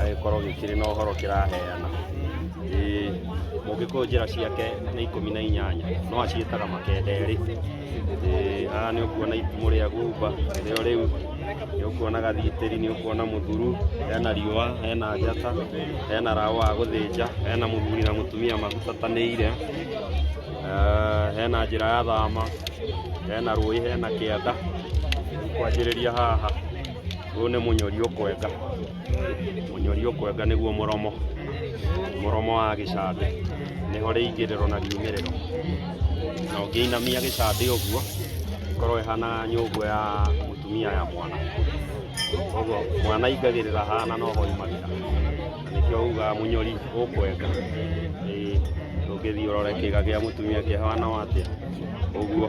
gĩkorwo gĩkĩrĩ na ũhoro kĩraheana mũngĩkũyũ njĩra ciake nĩ ikũmi na inyanya no aciĩtaga makenderĩ haha nĩ ũkuona itimũ rĩa gumba rĩo rĩu nĩ ũkuona gathitĩri nĩ ũkuona mũthuru hena riũa hena njata hena raũ wa gũthĩnja hena mũthuri na mũtumia magucatanĩire hena njĩra ya thama hena rũĩ hena kĩanda kwanjĩrĩria haha. Ũyũ nĩ mũnyori ũkwenga, mũnyori ũkwenga nĩguo mũromo, mũromo wa gĩcambĩ, nĩho rĩingĩrĩro na riumĩrĩro. Na ũngĩinamia gĩcambĩ ũguo, ĩkorwo ĩhana nyũngũ ya mũtumia ya mwana. Koguo mwana aingagĩrĩra haha na noho aumagĩra, na nĩkĩo ugaga mũnyori ũkwenga. Ĩĩ, ndũngĩthiĩ ũrore kĩga kĩa mũtumia kĩhana o atĩa, ũguo.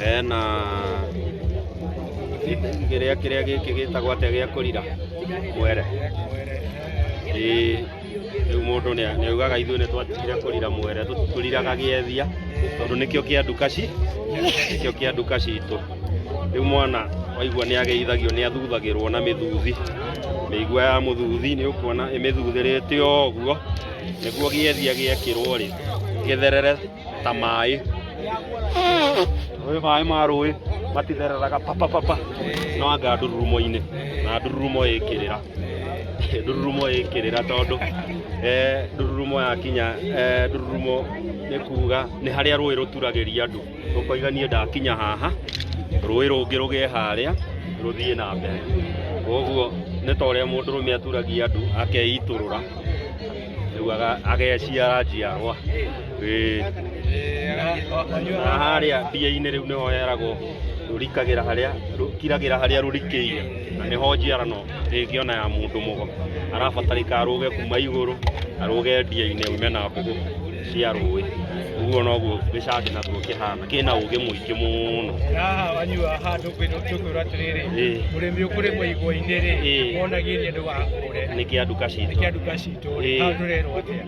hena kĩrĩa kĩrĩa gĩkĩ gĩtagwo atĩa gĩa kũrira mwere ĩĩ rĩu mũndũ nĩ- nĩaugaga ithuĩ nĩ twatigire kũrira mwere tũ- tũriraga gĩethia tondũ nĩkĩo kĩa nduka ci nĩkĩo kĩa nduka citũ rĩu mwana waigua nĩ ageithagio nĩ athuthagĩrwo na mĩthuthi mĩigua ya mũthuthi nĩ ũkuona ĩmĩthuthĩrĩte ũguo nĩguo gĩethia gĩekĩrwo rĩ gĩtherere ta maĩ ũyũ maĩ ma rũĩ matithereraga papapapa no anga ndururumo-inĩ na ndururumo ĩkĩrĩra ndururumo ĩkĩrĩra tondũ eh, ndururumo yakinya eh, ndururumo nĩ kuga nĩ harĩa rũĩ rũturagĩria andũ rũkoiga niĩ ndakinya haha rũĩ rũngĩ rũgĩe harĩa rũthiĩ na mbere koguo nĩ ta ũrĩa mũndũ rũme aturagia andũ akeitũrũra rĩu aga- ageciara njiarwa Ĩĩ. na harĩa ndĩa-inĩ rĩu nĩho heragwo rũrikagĩra harĩa rũkiragĩra harĩa rũrikĩire na nĩho njiarano ĩngĩona ya mũndũ mũgo arabatarĩka arũge kuma igũrũ arũge ndĩa-inĩ aume na mbũgũ cia rũĩ ũguo noguo gĩcangĩ naguo kĩhana kĩna ũgĩ mũingĩ mũno haha wanyua haha tũkwĩrwo tũkwĩrwo atĩrĩrĩ Ĩĩ. mũrĩmi ũkũrĩmwo igwa-inĩ rĩ Ĩĩ. wonagĩria ndũgakũre nĩ kĩa nduka nĩ citũ kĩa nduka citũ Ĩĩ. haha tũrerwo atĩa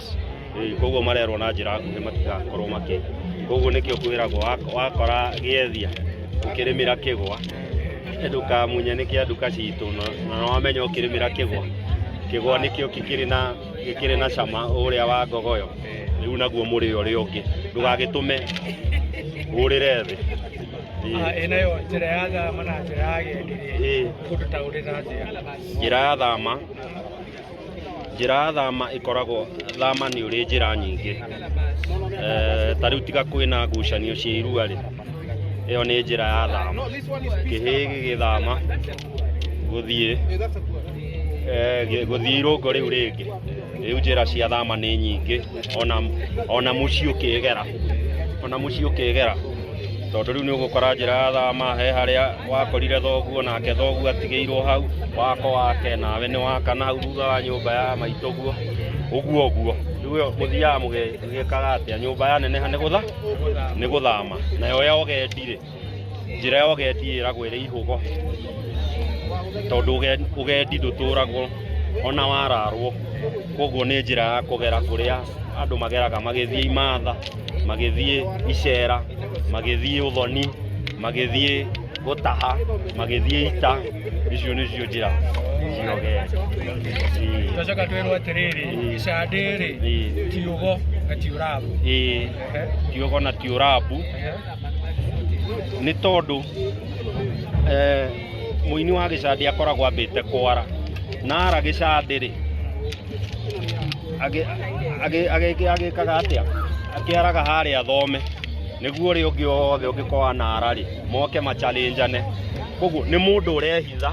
States. Koguo marerwo na njĩra nguhĩ matigakorwo makĩ koguo nĩkĩo kwĩragwo wak- wakora gĩethia ũkĩrĩmĩra kĩgwa ndũkamunye nĩ kĩa nduka citũ na- na wamenya ũkĩrĩmĩra kĩgwa kĩgwa nĩkĩo gĩkĩrĩ na gĩkĩrĩ na cama ũrĩa wa ngogoyo rĩu naguo mũrĩ ũrĩa ũngĩ ndũgagĩtũme ũrĩre thĩ Ah, Ĩĩ. ĩno yo njĩra ya thama na njĩra ya gĩenderia Ĩĩ. kũndũ ta ũrĩ na njĩra njĩra ya thama njĩra ya thama ĩkoragwo thama nĩ ũrĩ njĩra nyingĩ Eh, ta rĩu tiga kwĩna ngucanio cia irua rĩ ĩyo nĩ njĩra ya thama kĩhĩ gĩgĩthama gũthiĩ eh, gĩ- gũthiĩ irũngo rĩu rĩngĩ rĩu njĩra cia thama nĩ nyingĩ ona ona muciĩ ũkĩgera ona muciĩ ũkĩgera tondũ rĩu nĩ ũgũkora njĩra ya thama he harĩa wakorire thoguo nake thoguo atigĩirwo hau wako wake nawe nĩ waka na hau thutha wa nyũmba ya maitũ guo ũguo ũguo rĩu mũthiaga mũgĩkaga atĩa nyũmba yaneneha nĩ gũtha nĩ gũthama nayo ya ũgendi rĩ njĩra ya ũgendi ĩragwo ĩrĩ ihũgo tondũ ũge- ũgendi ndũtũragwo ona wararwo koguo nĩ njĩra ya kũgera kũrĩa andũ mageraga magĩthiĩ imatha magĩthiĩ icera magĩthiĩ ũthoni magĩthiĩ gũtaha magĩthiĩ ita icio nĩcio njĩra cia ũgendi Ĩĩ, twacoka twĩrwo atĩrĩrĩ Mm. icandĩ rĩ ĩĩ, tiugo na tiũrabu ĩĩ, tiũgo na tiũrabu nĩ tondũ eh, mũini wa gĩcandĩ akoragwo ambĩte kwara na ara gĩcandĩ rĩ agĩ- agĩ- agĩ- agĩkaga atĩa akĩaraga harĩa athome nĩguo ũrĩa ũngĩ wothe ũngĩkorwo na ara rĩ moke machalenjane koguo nĩ mũndũ ũrehitha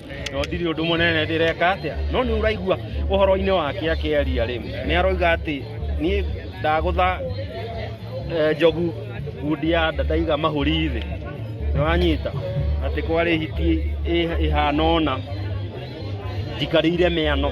no ndirĩ ũndũ mũnene ndĩreka atĩa no nĩ ũraigua ũhoro-inĩ wake akĩaria rĩ nĩ aroiga atĩ niĩ ndagũtha eh, njogu ngundi ya nda ndaiga mahũri thĩ nĩ wanyita atĩ kwarĩ hiti ĩ- ĩhana ũna njikarĩire mĩano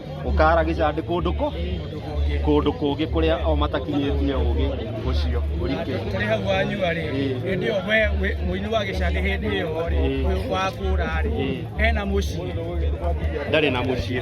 ũkaragĩca ndĩ kũndũ kũ kũndũ kũngĩ kũrĩa o matakinyĩtie ũgĩ ũcio ũrike kũrĩ hau wanyua-rĩ Ĩĩ. hĩndĩ ĩyo we we- mũini wa gĩcandĩ hĩndĩ ĩyo-rĩ Ĩĩ. ũyũ wakũra-rĩ Ĩĩ. ena mũciĩ ndarĩ na mũciĩ